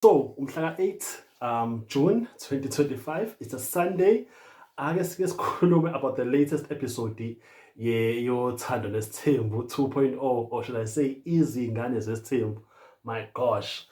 So umhlaka 8 um June 2025 it's a Sunday ake sike sikhulume about the latest episode ye yothando nesithembu 2.0 or should I say izingane zesithembu my gosh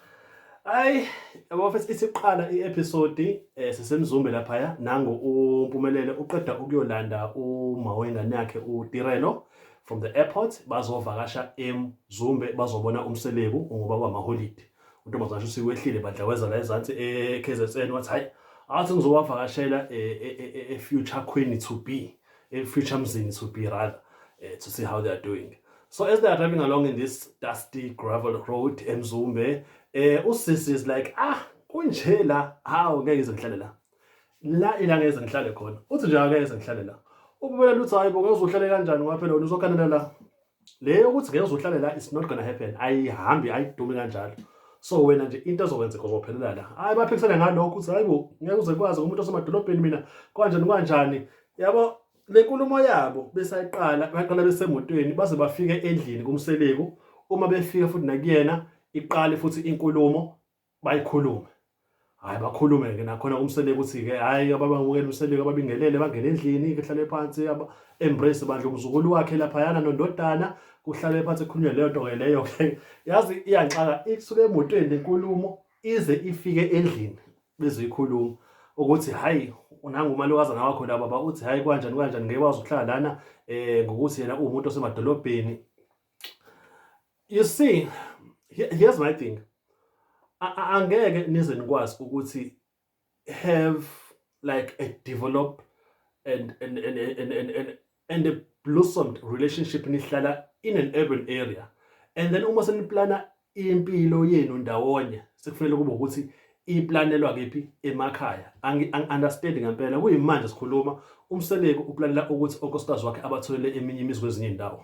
ay abafethu isiqala i-episode eh sisemzumbe lapha ya nango umpumelele uqeda ukuyolanda uma wengane yakhe uDirelo from the airport bazovakasha eMzumbe bazobona umseleku ngoba kwamaholide untombazane uthi wehlile bandla weza la ezansi eKZN wathi hayi athi ngizowavakashela eFuture Queen to be eFuture Mzini to be rather eh, to see how they are doing so as they are driving along in this dusty gravel road eMzumbe eh usisi is like ah kunje la hawu ngeke ngize ngihlale la la ilanga ngeze ngihlale khona uthi nje ngeke ngize ngihlale la ububela luthi hayi bo ngeke uzohlale kanjani waphela wena uzokhanela la le yokuthi ngeke uzohlale la it's not gonna happen ayihambi ayidumi kanjalo so wena nje into ezokwenzeka uzophelela la hayi baphikisana ngalokho ukuthi hayi bo ngeke uze kwazi umuntu osemadolobheni mina kanjani kanjani yabo le nkulumo yabo besayiqala baqala besemotweni baze bafike endlini kumseleku uma befika futhi nakuyena iqale futhi inkulumo bayikhulume hayi bakhulume ke nakhona kumsele ukuthi ke hayi ababamukela umseleko ababingelele bangene endlini kuhlale phansi embrace bandla umzukulu wakhe lapha yana nondodana kuhlale phansi kukhulunywe leyo nto ke leyo ke yazi iyanxaka isuke emotweni inkulumo ize ifike endlini bezoyikhuluma ukuthi hayi unanga umalokazana wakho la baba uthi hayi kwanjani kwanjani ngeke wazi ukuhlala lana eh ngokuthi yena uwumuntu osemadolobheni you see here's my thing angeke nize nikwazi ukuthi have like a develop and and and and and, and, and a blossomed relationship nihlala in an urban area and then uma seniplana impilo yenu ndawonye sekufanele kube ukuthi iplanelwa kephi emakhaya angi-understandi ngempela kuyimanje sikhuluma umseleku uplanela ukuthi onkosikazi wakhe abatholele eminye imizi kwezinye indawo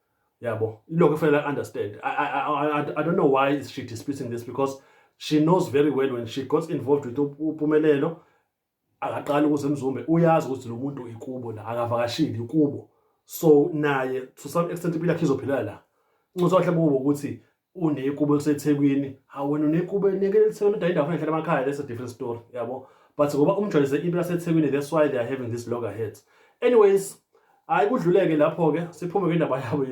yabo ilokho efanele understand I, I, I, I don't know why is she disputing this because she knows very well when she got involved with upumelelo akaqali ukuze mzumbe uyazi ukuthi lo muntu ikubo la akavakashile ikubo so naye to some extent impilo yakhe izophila la ncozo wahle kubo ukuthi unekubo elisethekwini hawu wena unekubo neke elisethekwini udayinda afuna ehlala emakhaya that's a different story yabo but ngoba umjwayeze into yasethekwini that's why they are having this loggerheads anyways hayi kudluleke lapho-ke siphume kwindaba yabo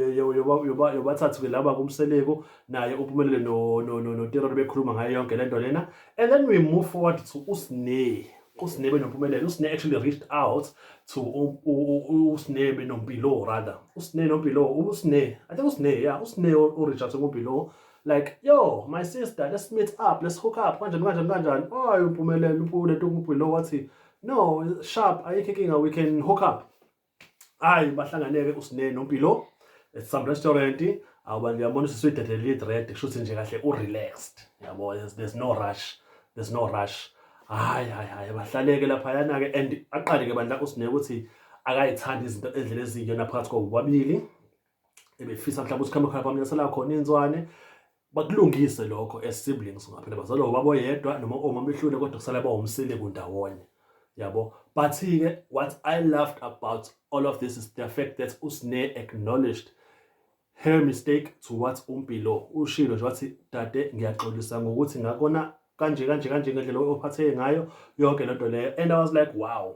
yobathathu-ke laba kumseleku naye uphumelele noterori bekhuluma ngayo yonke le nto lena and then we move forward to usney usne benompumelelo usne actually reached out to usne benompilo rather usne nompilo usne i think usne yeah usne ureach out to umpilo like yo my sister let's meet up let's hook up kanjani kanjani kanjani oh umpumelelo umpule tumpilo wathi no sharp ayikho inkinga we can hook up hayi bahlanganeke usine nompilo at some restaurant awuba ndiyabona usisi uyidedelile idred kusho ukuthi nje kahle u-relaxed yabo there's no rush there's no rush hayi hayi hayi bahlaleke laphayana-ke and aqale-ke bandla usine ukuthi akayithandi izinto endlela eziyiyona phakathi kwabobabili ebefisa mhlawumbe ukuthi khambe khona bamnyasela khona inzwane bakulungise lokho as siblings ngaphela bazalwa ubaba oyedwa noma omama behlule kodwa kusala bawumsile kundawonye yabo but ke what i loved about all of this is the fact that usne acknowledged her mistake to what umpilo ushilo nje wathi dade ngiyaxolisa ngokuthi ngakona kanje kanje kanje ngendlela ophatheke ngayo yonke lento leyo and i was like wow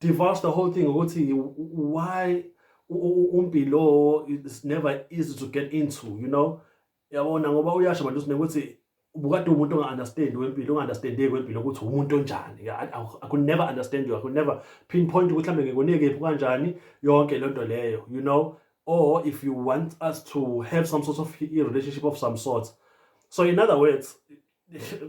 divulge the whole thing ukuthi why umpilo is never easy to get into you know yabona ngoba uyasho manje usine ukuthi ubukade umuntu onga-understand wempilo unga-understandeki wempilo ukuthi umuntu onjani i could never understand you i could never pinpoint ukuthi mhlawumbe ngikunekephi kanjani yonke le nto leyo you know or if you want us to have some sort of relationship of some sort so in other words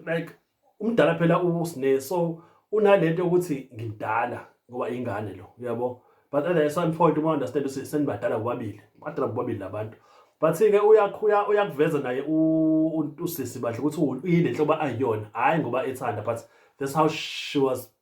like umdala phela usine so unalento ukuthi ngimdala ngoba ingane lo uyabo but at the same point uma understand ukuthi senibadala bobabili badala bobabili labantu but ke uyakhuya uyakuveza naye usisi bahle ukuthi uyile nhlobo ayiyona hayi ngoba ethanda but that's how she was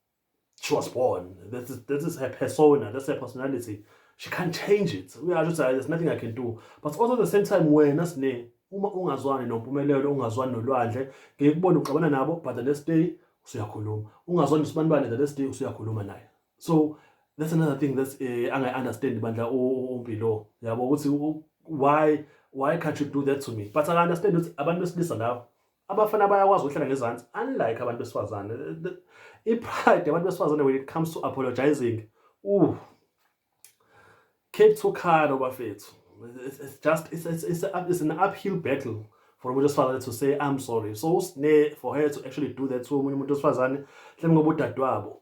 she was born this is, this is her persona that's her personality she can't change it uyasho ukuthi there's nothing i can do but also at the same time wena sine uma ungazwani nompumelelo ungazwani nolwandle ngeke kubone uxabana nabo but the next day usuyakhuluma ungazwani nosibanibane the next day usuyakhuluma naye so that's another thing that's uh, eh, angayi-understand bandla umpilo yabo ukuthi why why can't you do that to me but aka-understand ukuthi abantu besilisa lawo abafana bayakwazi ukuhlala ngezansi unlike abantu besifazane i-pride yabantu besifazane when it comes to apologizing uh keep to khalo bafethu it's, it's just it's, it's, it's, a, it's an uphill battle for umuntu wesifazane to say i'm sorry so usine for her to actually do that to omunye umuntu wesifazane mhlawumbe ngoba udadewabo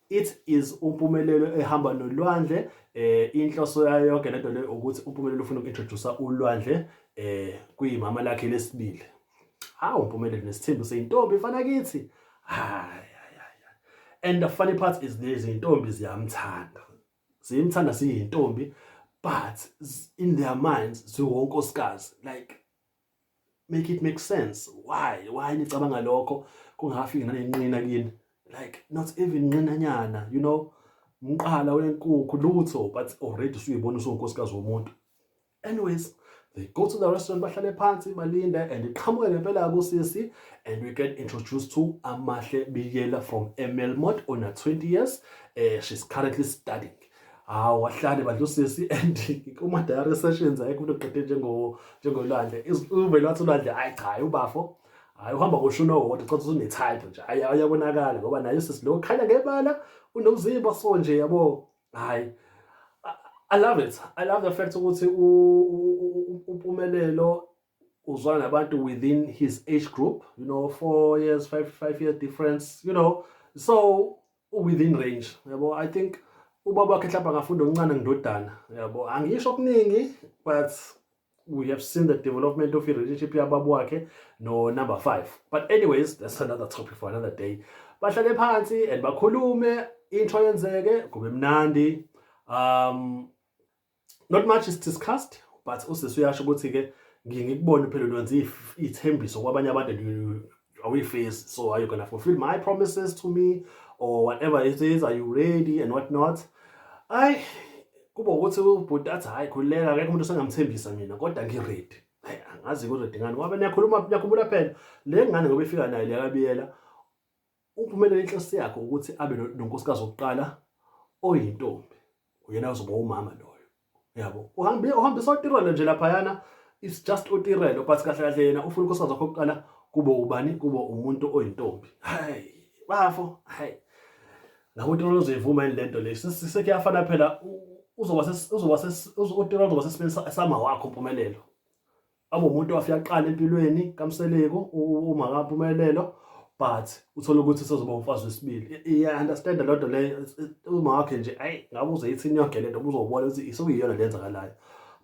It is uMpumelelo ehamba nolwandle eh inhloso yayo yonke lento le ukuthi uMpumelelo ufuna ukintroduce ulwandle eh kuyimama lakhe lesibili hawu uMpumelelo nesithembu seyintombi fana kithi hayi and the funny part is this intombi ziyamthanda ziyimthanda siyintombi but in their minds ziwonkosikazi like make it make sense why why nicabanga lokho kungafiki nanenqina kini like not even nqinanyana you know umqala wenkukhu lutho but already suyibona usunkosikazi womuntu anyways they go to the restaurant bahlale phansi balinde and iqhamuke ngempela kusisi and we get introduced to amahle biyela from emelmot ona 20 years uh, she's currently studying hawu wahlale bandla usisi and kuma-diary sessions ayekho into qede njengolwandle uvele wathi ulwandle ayi cha hayi ubafo hayi uhamba ngoshuni owodwa cotha usunetype nje hayi ayabonakala ngoba naye usisi lo khanya ngebala unomzimba so nje yabo hayi I love it. I love the fact ukuthi uMpumelelo uzwana nabantu within his age group, you know, 4 years, 5 5 year difference, you know. So within range yabo i think ubaba wakhe mhlawumbe angafunda okuncane ngindodana yabo angisho okuningi but we have seen the development of i-relationship yababa wakhe no-number five but anyways that's another topic for another day bahlale phansi and bakhulume into yenzeke kube mnandi um not much is discussed but usisi uyasho ukuthi-ke ngiye ngikubone phela lwenza iy'thembiso kwabanye abantu and you- awuyifezi so are you gonna fulfill my promises to me or whatever it is are you ready and what not ayi kuba ukuthi ubhuti athi hhayi khululeka akekho umuntu osengamthembisa mina kodwa ngi-ready Ayi, angazi ngi-ready ngani ngoba niyakhuluma niyakhumbula phela le ngane ngoba ifika nayo liyakabiyela UPhumelele inhloso yakhe ukuthi abe nonkosikazi wokuqala oyintombi uyena ozoba umama loyo yabo uhambe uhambisa otirelo nje laphayana it's just otirelo but kahle kahle yena ufuna unkosikazi wakhe wokuqala kube ubani kube umuntu oyintombi hayi bafo hayi labo tirelo uzoyivuma yini lento le sekuyafana phela uzoba uzoba uzoba utirelo uzoba sesimeni sama wakho mpumelelo abe umuntu owafika kuqala empilweni kaMseleku uma kaPhumelelo but uthola ukuthi usezoba umfazi wesibili iya understand lo nto leyo uma wakhe nje ayi ngabe uzoyithini yonke lento ubuzobona ukuthi isukuyiyona lenzakalayo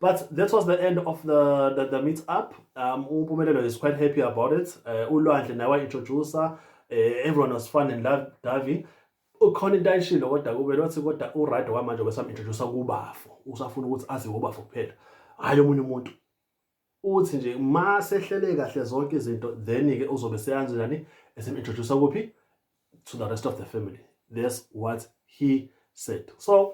But that was the end of the, the, the meet up. Um, Umpumelelo is quite happy about it. Uh, Ulwandle naye introducer. Uh, everyone was fun and loved Davi. ukhona into ayishilo kodwa kube nothi kodwa uright kwamanje kwesam introduce kubafo usafuna ukuthi aziwe ubafo kuphela hayi omunye umuntu uthi nje ma sehlele kahle zonke izinto then ke uzobe seyanzi nani esim introduce kuphi to the rest of the family that's what he said so